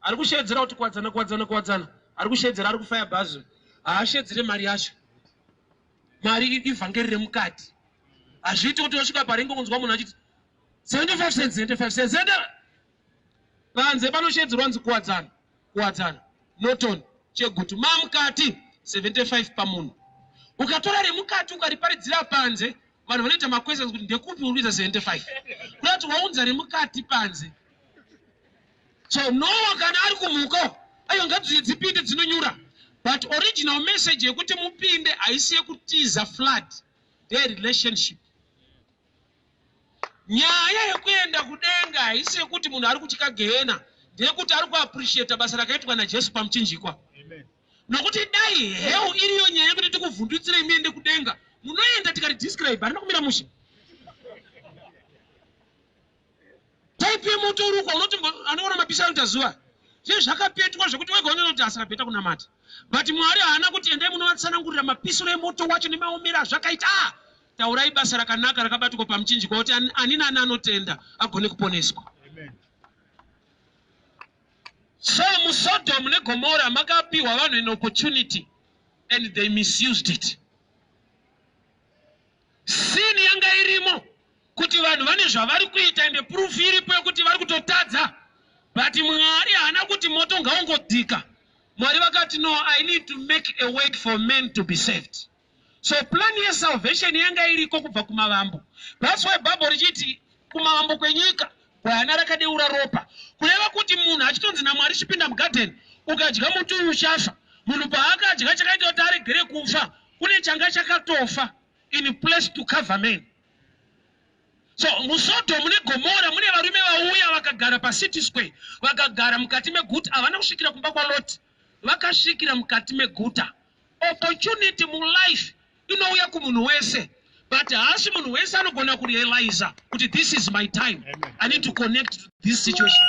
ari kusheedzera kuti kuwadzana kuwadzana kuwadzana ari kusheedzera ari kufaya bhazi haasheedzere mari yacho mari ivhangeri remukati hazviiti kuti wasvika paringe kunzwa munhu achiti 75 cents 75 cents enda panze panosheedzerwa nzi kuwadzana kuwadzana noton chegutu mamukati 75 pamunhu ukatora remukati ukariparidzira panze vanhu vanoita maquestions kuti ndekupi uri kuita 75 kuda kuti waunza remukati panze so noa kana ari kumuka ayo ngadziye dzipinde dzinonyura but original message yekuti mupinde haisi yekutiza flood their relationship nyaya yekuenda kudenga haisi yekuti munhu ari kutya gehena ndeyekuti ari kuappreciata basa rakaitwa najesu pamuchinjikwa Amen. Nokuti dai hell iriyo nyaya yekuti tikuvhundutsirei muende kudenga, munoenda tikati describe harina kumira mushe. Type yemoto uri uko unoti anoona mapisha anoita zuva. Zve zvakapetwa zvekuti wega unoona kuti asira beta kunamata. But Mwari haana kuti endai munovatsanangurira mapisiro emoto wacho nemaomera azvakaita. Ah! Taurai basa rakanaka rakabatikwa pamuchinjikwa kuti ani nani anotenda agone kuponeswa. Amen. So muSodom neGomora makapiwa vanhu an opportunity and they misused it. Sin yanga irimo kuti vanhu vane zvavari kuita and proof iripo yekuti vari kutotadza but Mwari haana kuti moto ngaungodhika. Mwari vakati no, I need to make a way for men to be saved. So plan ye salvation yanga iriko kubva kumavambo. That's why Bible richiti kumavambo kwenyika gwayana rakadeura ropa. Kureva kuti munhu achitonzi naMwari chipinda mugarden ukadya muti uyu uchafa. Munhu paakadya chakaita kuti aregere kufa kune changa chakatofa in place to cover men. So musoto mune gomora mune varume vauya vakagara pacity square vakagara mukati meguti havana kusvikira kumba kwaloti vakasvikira mukati meguta. Opportunity mulife inouya kumunhu wese but haasi munhu wese anogona kurealiza kuti this is my time i need to connect to this situation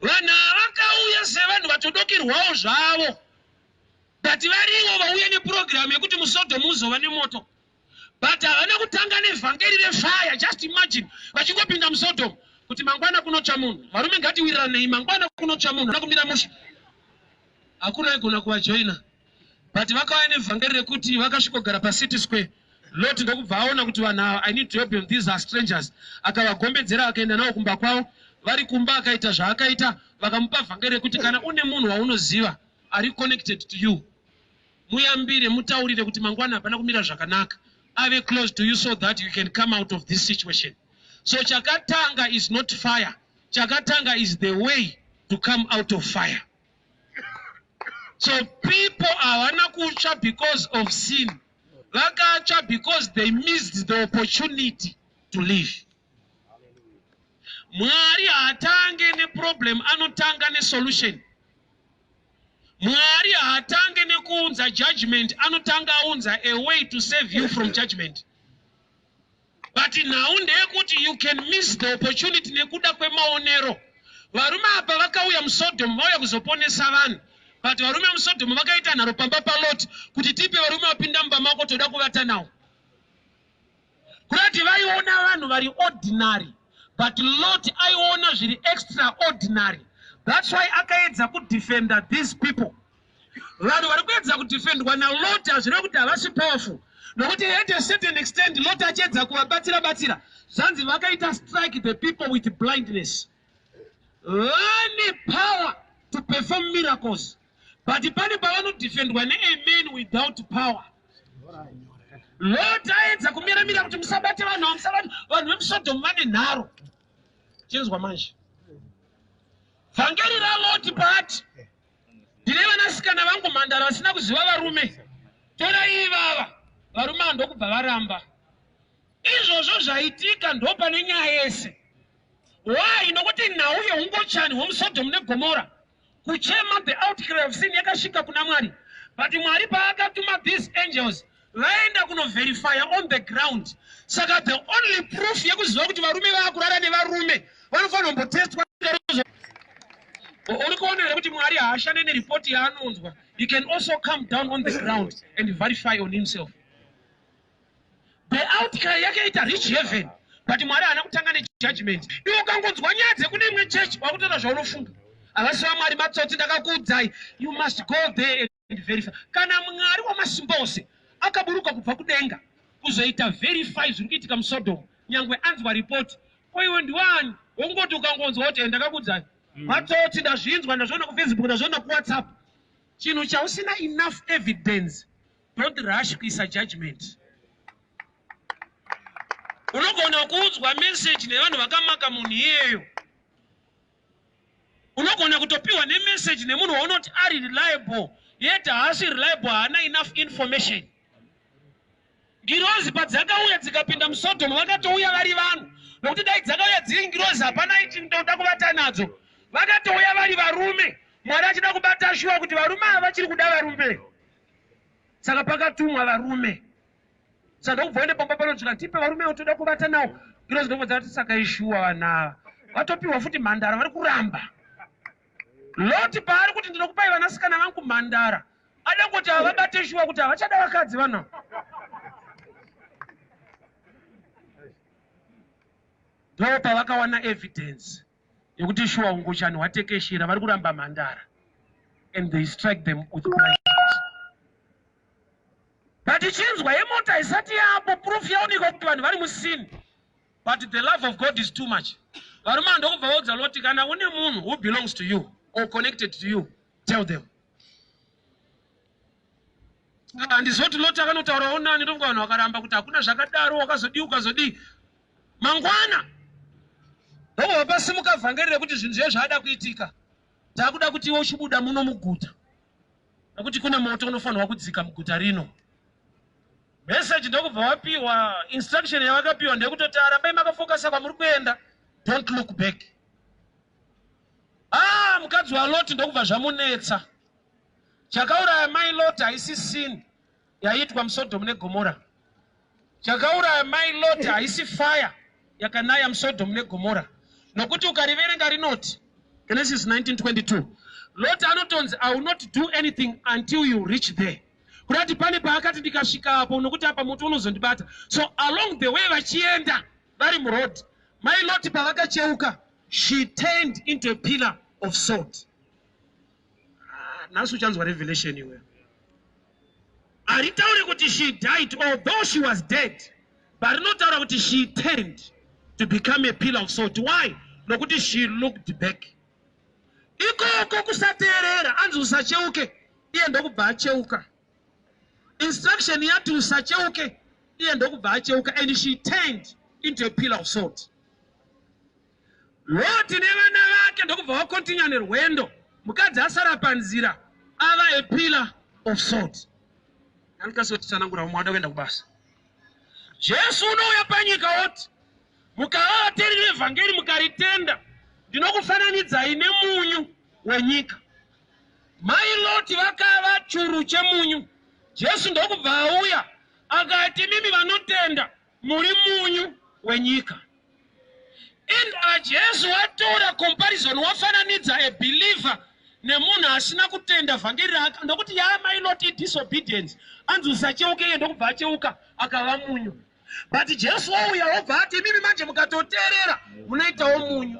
vanhu avakauya sevanhu vatodokerwawo zvavo but varivo vauya nepurogiramu yekuti musodomu uzova nemoto but havana kutanga nevhangeri refaya just imagine vachingopinda musodom kuti mangwana kunotsva munhu varume ngatiwiriranei mangwana kunotsva munhu ana kumira musha hakuna aigona kuvajoina but vakauya nevhangeri rekuti vakasvikogara pacity square lot ndokubva aona kuti vanhu ava i need to help them these are strangers akavagombedzera akaenda navo kumba kwavo vari kumba akaita zvaakaita vakamupa vhangeri rekuti kana une munhu waunoziva ari connected to you Muyambire mutaurire kuti mangwana hapana kumira zvakanaka ave close to you so that you can come out of this situation. So chakatanga is not fire. Chakatanga is the way to come out of fire. So people havana kutsva because of sin. Vakatsva because they missed the opportunity to live. Mwari haatange neproblem anotanga nesolution. Mwari haatange nekuunza judgment anotanga aunza a way to save you from judgment. But nhau ndeyekuti you can miss the opportunity nekuda kwemaonero. Varume apa vakauya muSodom vauya kuzoponesa vanhu. But varume muSodom vakaita nharo pamba paLot kuti tipe varume vapinda mumba mako toda kuvata nawo. Kurati vaiona vanhu vari ordinary but Lot aiona zviri extraordinary. That's why akaedza kudefender these people. Vanhu vari kuedza kudefendwa naLot hazvireve kuti havasi powerful nokuti at a certain extent Lot achiedza kuvabatsira batsira zvanzi vakaita strike the people with blindness. Vane power to perform miracles. but pane pavanodefendwa neamen without power lot aedza kumiramira kuti musabate vanhu avo musabate vanhu vemusodomu vane nharo chinzwa manje vhangeri raloti paati ndine vanasikana vangu mhandara vasina kuziva varume torai ivava varume ava ndokubva varamba izvozvo zvaitika ndopane nyaya yese why nokuti nhau yeungochani hwomusodomu negomora Kuchema the outcry of sin yakasvika kuna Mwari but Mwari paakatuma these angels vaenda kunoverifya on the ground saka the only proof yekuziva kuti varume vaakurara nevarume vanofanira kumbotestwa uri kuona here kuti mwari haashande neripoti yaanonzwa he can also come down on the ground and verify on himself The outcry yakaita rich heaven but Mwari haana kutanga nejudgment. Iwe ukangonzwa nyaya dzekune imwe church wakutoita zvaunofunga. Havasi vaMwari matsotsi ndakakuudzai. You must go there and verify. Kana Mwari wamasimba ose akaburuka kubva kudenga kuzoita verify zviri kuitika muSodom nyangwe anzwa report. Ko iwe ndiwani? Wongoti ukangonzwa kuti ndakakuudzai. Mm. Matsotsi ndazvinzwa ndazviona kuFacebook ndazviona kuWhatsApp. Chinhu chausina enough evidence Don't rush kuisa judgment. Unogona kuudzwa message nevanhu vakamaka munhu iyeyo. Unogona kutopiwa nemessage nemunhu waunoti ari reliable yet haasi reliable haana enough information. Ngirozi padzakauya dzikapinda muSodom vakatouya vari vanhu nokuti dai dzakauya dziri ngirozi hapana ichitoda kuvata nadzo. Vakatouya vari varume Mwari achida kubata shuwa kuti varume ava vachiri kuda varume. saka pakatumwa varume saka ndokubva uende pamba panonzvika tipe varume utoda kuvata nawo girozi ndokubva dzati saka ishuwa vana ava vatopiwa futi mhandara vari kuramba loti paari kuti ndinokupai vanasikana vangu mhandara ada kuti havabate shuwa kuti havachada vakadzi vana ndopavakawana evidence yekuti shuwa hungochani hwatekeshera vari kuramba mhandara and they strike them with blankets but ichinzwa yemota haisati yapo proof yaonekwa kuti vanhu vari musini but the love of god is too much varume ava ndokubva vaudza loti kana une munhu who belongs to you or connected to you tell them handizoti ah, loti akanotaurawo nani ndonga vanhu vakaramba kuti hakuna zvakadaro wakazodii ukazodii mangwana ndonga vapasimuka vhangeri rekuti zvinhu zviye zvaada kuitika taakuda kuti iwe uchibuda muno muguta nekuti kune moto unofanirwa kudzika muguta rino message ndokubva wapiwa instruction yavakapiwa ndeyekutoti arambai makafokasa kwamuri kuenda don't look back ah mukadzi waloti ndokubva zvamunetsa Chakauraya mai Lot haisi sin yaiitwa muSodom neGomora. Chakauraya mai Lot haisi fire yakanaya muSodom neGomora. Nokuti ukariverenga rinoti Genesis 19:22 Lot anotonzi I will not do anything until you reach there. Kurati pane paakati ndikasvika apo nokuti apa moto unozondibata. So along the way vachienda vari muroad mai Lot pavakacheuka she turned into a pillar of salt. Ah, nhasi uchanzwa revelation iwe haritaure kuti she died although she was dead but rinotaura kuti she turned to become a pillar of salt why nokuti she looked back ikoko kusateerera anzi usacheuke iye ndokubva acheuka instruction yati usacheuke iye ndokubva acheuka and she turned into a pillar of salt Roti nevana vake ndokubva vakontinya nerwendo, mukadzi asara panzira ava a pillar of salt. Andikasi kutsanangura vamwe vada kuenda kubasa. Jesu unouya panyika woti, mukava vateereri vevhangeri mukaritenda, ndinokufananidzai nemunyu wenyika. Mai Loti vakava churu chemunyu, Jesu ndokubva auya akati, imimi vanotenda, Muri munyu wenyika. And uh, Jesu watora comparison wafananidza a believer nemunhu asina kutenda vhangeri raka ndokuti yaa mainoti disobedience anzi usacheuke iye ndokubva acheuka akava munyu but jesu wouya wobva ati imimi manje mukatoteerera munoitawo munyu